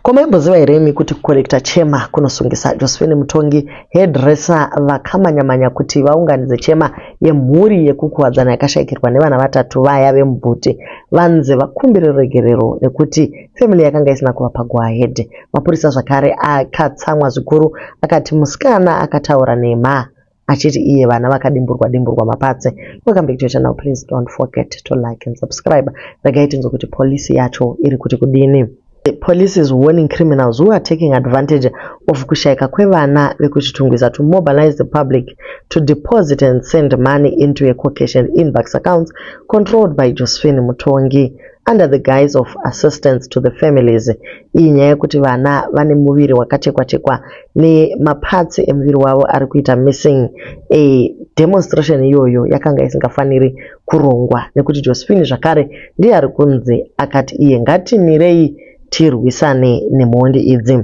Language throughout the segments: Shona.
Ko maimboziva here imi kuti kukorekita chema kunosungisa? Josephine Mutongi, hairdresser, vakamanyamanya kuti vaunganidze chema yemhuri yekukuwadzana yakashaikirwa nevana vatatu vaya vemubhuti vanzi vakumbire ruregerero nekuti family yakanga isina kuvapa go ahead. Mapurisa zvakare akatsamwa zvikuru akati musikana akataura nhema achiti iye vana vakadimburwa dimburwa mapatse welcome back to your channel please don't forget to like and subscribe regai tinzwe kuti polisi yacho iri kuti kudini The police is warning criminals who are taking advantage of kushaika kwevana vekuchitungwiza to mobilize the public to deposit and send money into a Caucasian inbox accounts controlled by Josephine Mutongi. under the guise of assistance to the families iyi nyaya yekuti vana vane muviri wakachekwa chekwa nemaparts emuviri wavo ari kuita missing a demonstration iyoyo yakanga isingafaniri kurongwa nekuti josephine zvakare ndiye ari kunzi akati iye ngatimirei tirwisane nemhondi idzi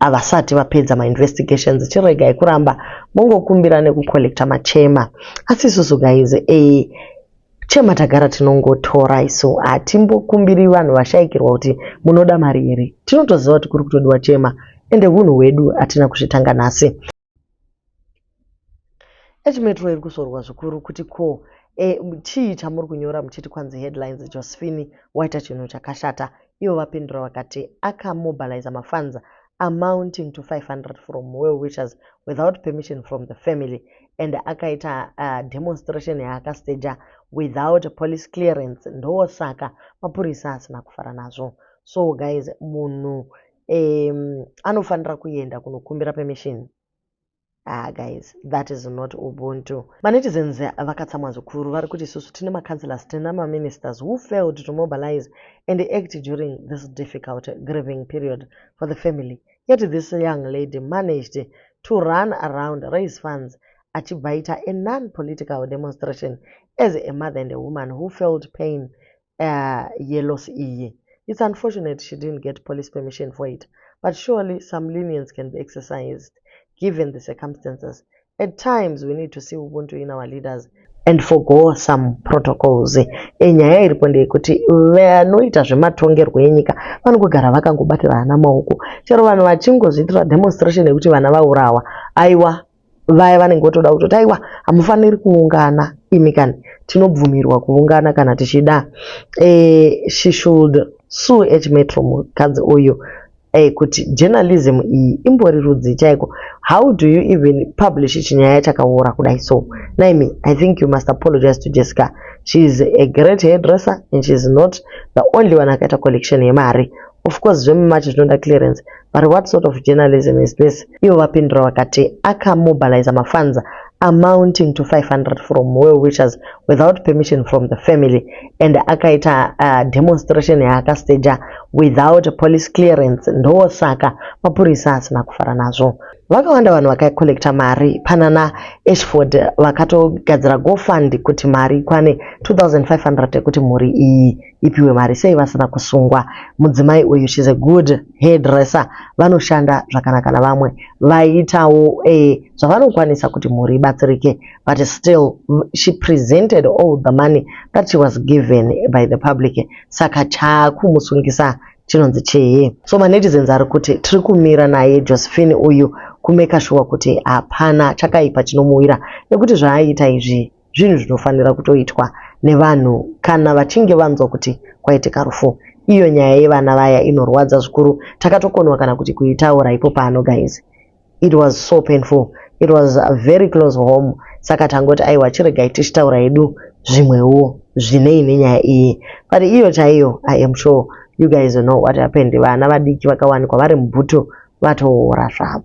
havasati vapedza mainvestigations chiregai kuramba mongokumbira nekucollecta machema asi isusu guys e chema tagara tinongotora isu hatimbokumbiri vanhu vashaikirwa kuti munoda mari here tinotoziva kuti kuri kutodiwa chema ende hunhu hwedu hatina kuzvitanga nhasi Echimetro iri kuzorwa zvikuru kuti ko e, chii chamuri kunyora muchiti kwanzi headlines Josephine waita chinhu chakashata ivo vapindura vakati akamobiliza mafanza amounting to 500 from well wishers without permission from the family and akaita uh, demonstration yaakasteja without police clearance ndosaka mapurisa asina kufara nazvo so guys munhu um, anofanira kuenda kunokumbira permission ah guys that is not ubuntu manetizens vakatsamwa zvikuru vari kuti isusu tine macancelors tine maministers who failed to mobilize and act during this difficult grieving period for the family yet this young lady managed to run around raise funds achibva aita a non-political demonstration as a mother and a woman who felt pain uh, yelos iye it's unfortunate she didn't get police permission for it but surely some lenience can be exercised given the circumstances at times we need to see ubuntu in our leaders and forgo some protocols enyaya iripo ndeyekuti vanoita zvematongerwo enyika vanongogara vakangobatira vana maoko chero vanhu vachingozviitira demonstration yekuti vana vaurawa aiwa vaya vanenge votoda kutoti aiwa hamufaniri kuungana imi kani tinobvumirwa kuungana kana tichida e, she should sue h metro mukadzi uyu e, kuti journalism iyi imbori rudzi chaiko how do you even publish chinyaya chakaora kudai so naimi i think you must apologize to jessica she is a great hairdresser and she is not the only one akaita collection yemari Of course zvemumachi zvinoda clearance but what sort of journalism is this? Ivo vapindura vakati akamobiliza mafanza amounting to 500 from well wishers without permission from the family and akaita uh, demonstration yaakastaja without police clearance ndosaka mapurisa asina kufara nazvo vakawanda vanhu vakacollecta mari panana ashford vakatogadzira gofund kuti mari ikwane 2500 yekuti mhuri iyi ipiwe mari sei vasina kusungwa mudzimai uyu shes a good hairdresser vanoshanda zvakanaka navamwe vaiitawo eh, zvavanokwanisa kuti mhuri ibatsirike but still she presented all the money that she was given by the public saka chakumusungisa chinonzi chii so manetizens ari kuti tiri kumira naye josephine uyu kumeka shuwa kuti hapana chakaipa chinomuwira nekuti zvaaiita izvi zvinhu zvinofanira kutoitwa nevanhu kana vachinge vanzwa kuti kwaitika rufu iyo nyaya yevana vaya inorwadza zvikuru takatokonwa kana kuti kuitaura ipo pano guys it was so painful it was very close home saka tangoti aiwa chiregai tichitaura yedu zvimwewo zvinei nenyaya iyi but iyo chaiyo i am sure you guys know what happened vana vadiki vakawanikwa vari mubhutu vatoora zvavo